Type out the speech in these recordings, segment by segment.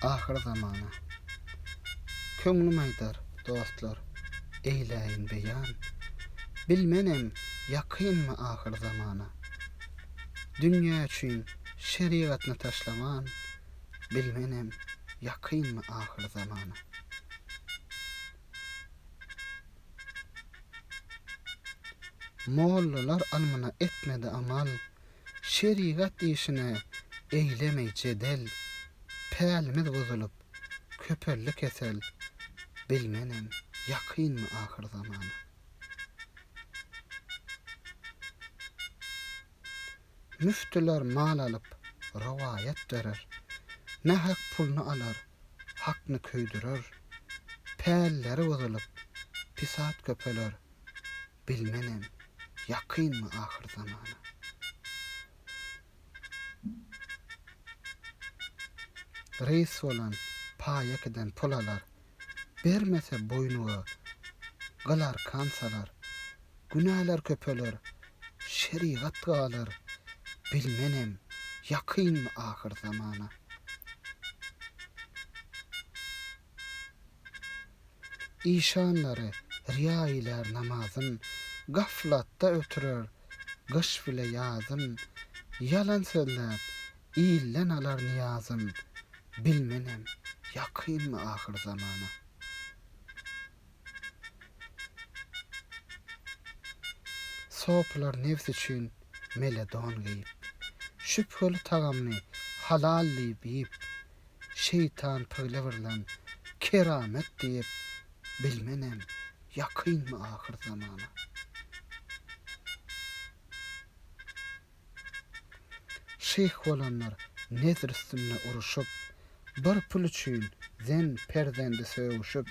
Ahyr zamana. Köňlüm aýdar, dostlar, eýläýin beýan, Bilmenem, ýakynmy ahyr zamana. Dünýä üçin şerigatny taşlaman, Bilmenem, ýakynmy ahyr zamana. Mollalar almyna etmedi amal, Şerigat işine eýlemey jedel, Pälimiz buzulyp, köpeldi kesel, Bilmenem, ýakynmy ahyr zamana. Müftüler mal alyp, rowaýat dörer, Nähak pulny alar, hakny köýdürer, Pälleri buzulyp, pisat köpeler, Bilmenem, ýakynmy ahyr zamana. Reýs bolan, paýa giden pul alar, Bermese boýnuga, gyl arkan salar. Günäler köpeler, şerigat galar, Bilmenem, ýakynmy ahyr zamana. Işanlary riýa eýlär namazyn, Gaflatda ötürer gyş bile ýazyn, Ýalan sözläp, ilden alar nyýazyn, Bilmenem, ýakynmy ahyr zamana. Sopylar nebs üçin meledon geýip. Şübheli tagamny halal diýip iýip. Şeýtan pygle birlen keramet diýip. Bilmenem, ýakynmy ahyr zamana. Şyh bolanlar nezr üstünde uruşyp, bir pul üçin zen perzendi sögüşip,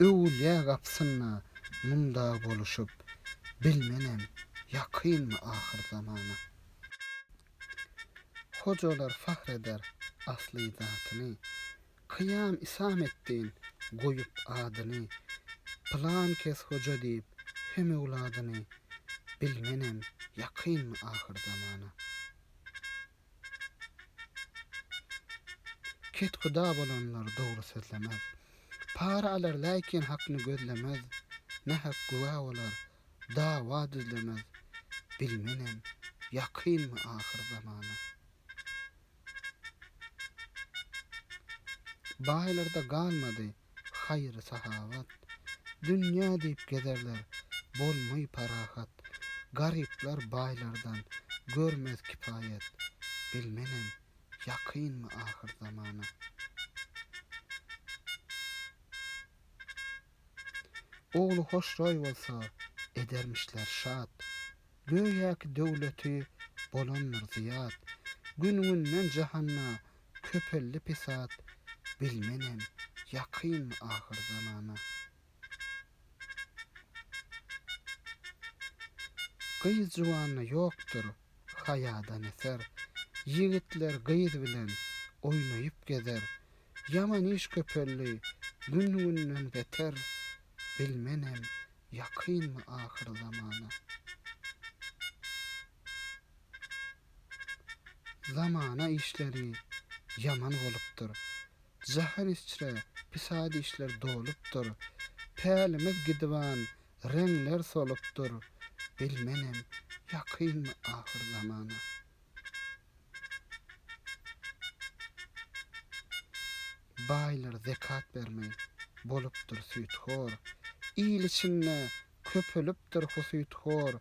öwülýä gapsynda munda boluşyp, bilmenem ýakynmy ahyr zamana. Hojalar fahr eder asly zatyny, Kyýam isam etdin goýup adyny, Pylan kes hoja diýip hem öwladyny, Bilmenem ýakynmy ahyr zamana. Kethuda bolanlar dogry sözlemez, Para alar läkin hakny gözlemez, Nähak güwä bolar, dawa düzlemez, Bilmenem ýakynmy ahyr zamana. Baýlarda galmady haýry-sahawat, Dünýä diýip gezerler, bolmaý parahat. Garyplar baýlardan görmez kipaýat, Bilmenem, ýakynmy ahyr zamana. Ogly hoşroý bolsa, edermişler şat, Göýäki döwleti bolandyr zyýat, Gün-günden jahanda köpeldi pesat, Bilmenem, ýakynmy ahyr zamana. Gyz juwanda ýokdur haýadan eser, Ýigitler gyz bilen oýnaýyp gezer, Ýaman iş köpeldi gün-günden beter, Bilmenem, Ýakynmy ahyr zamana? Zamana işleri ýaman bolupdyr. Jahan içre pisat işler dolupdyr. Pälimiz gidiban reňler solupdyr. Bilmenem, ýakynmy ahyr zamana? Baýlar zekat bermeli. Bolupdyr süýthor. Il içinde köpelipdir husythor.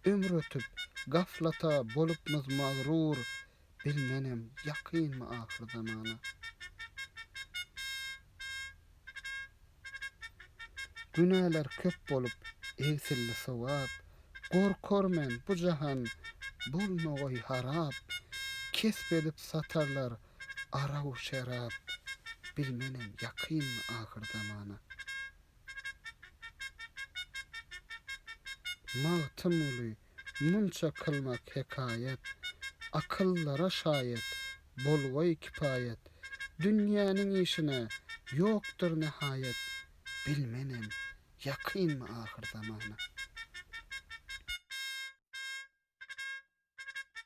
Ömür ötüp, gaflata bolupmyz magrur. Bilmenem, ýakynmy ahyrzamana. Günäler köp bolup egsildi sogap, Gorkar men bu jahan bolmagoý harap, Kesp edip satarlar araw şerap, Bilmenem ýakynmy ahyr zamana. Magtymguly Munça kylmak hekaýat, Akyllara şaýat, Bolgaý kipaýat, Dünýäniň işine Ýokdur nähaýat, Bilmenem, ýakynmy ahyr zamana.